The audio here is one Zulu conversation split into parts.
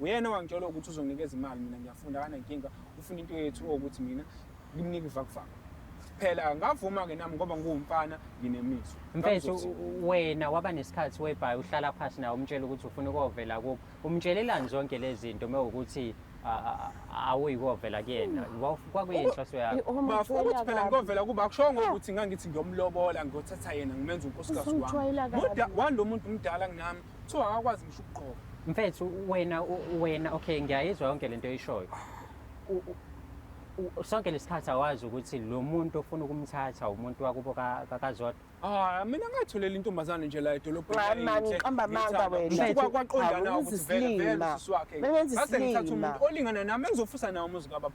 Uyena owangitshela ukuthi uzonginikeza imali mina ngiyafunda akanankinga ufuna into yethu ukuthi mina ngimnike ivakuvaka. Phela ngavuma ke nami ngoba ngiwumfana nginemizwa. Mfethu wena waba nesikhathi webhayi uhlala phansi nawe umtshela ukuthi ufuna ukovela kubo. Umtshelelani zonke lezi zinto mewukuthi awuyikovela kuyena kwakuyinhloso yakho bafo ukuthi phela ngikovela kuba akushongo ukuthi ngangithi ngiyomlobola ngiyothatha yena ngimenza unkosikazi wami kodwa walo muntu mdala kunami Kuthiwa akakwazi ngisho ukugqoka. Mfethu wena u- wena okay ngiyayizwa yonke lento oyishoyo. U- u- u- Sonke lesikhathi awazi ukuthi lo muntu ofuna ukumthatha umuntu wakubo ka- ka- kaZodwa. Ah, mina ngatholela intombazane nje la edolobheni. Mama, yayinhle, ngiqamba amanga ngiyithanda. wena. Ngithi Mfethu, kwa- kwaqondana awuzi ukuthi vele vele silima. usisi wakhe. Bengenza Ngase ngithathe isilima. umuntu olingana nami engizofusa nawo umuzi kababa.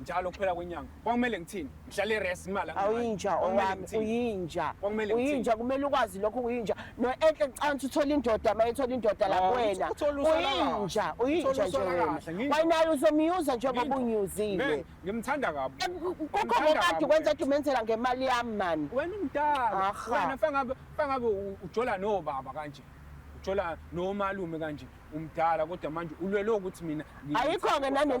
njalo kuphela kwenyanga kwakumele ngithini ngihlale res imali awuyinja owami uyinja uyinja kumele ukwazi lokho uyinja noenhle kucansi uthola indoda uma ethola indoda la oh, kuwena uyinja uyinja nje wena wayinayo uzomyuza njengoba unyuzile ngimthanda kabi eh, kukho ngokade kwenza ukuthi umenzela ngemali yami mani wena umdala wena fangabe fangabe ujola no baba kanje ujola nomalume kanje umdala kodwa manje ulwele ukuthi mina ayikho-ke nanento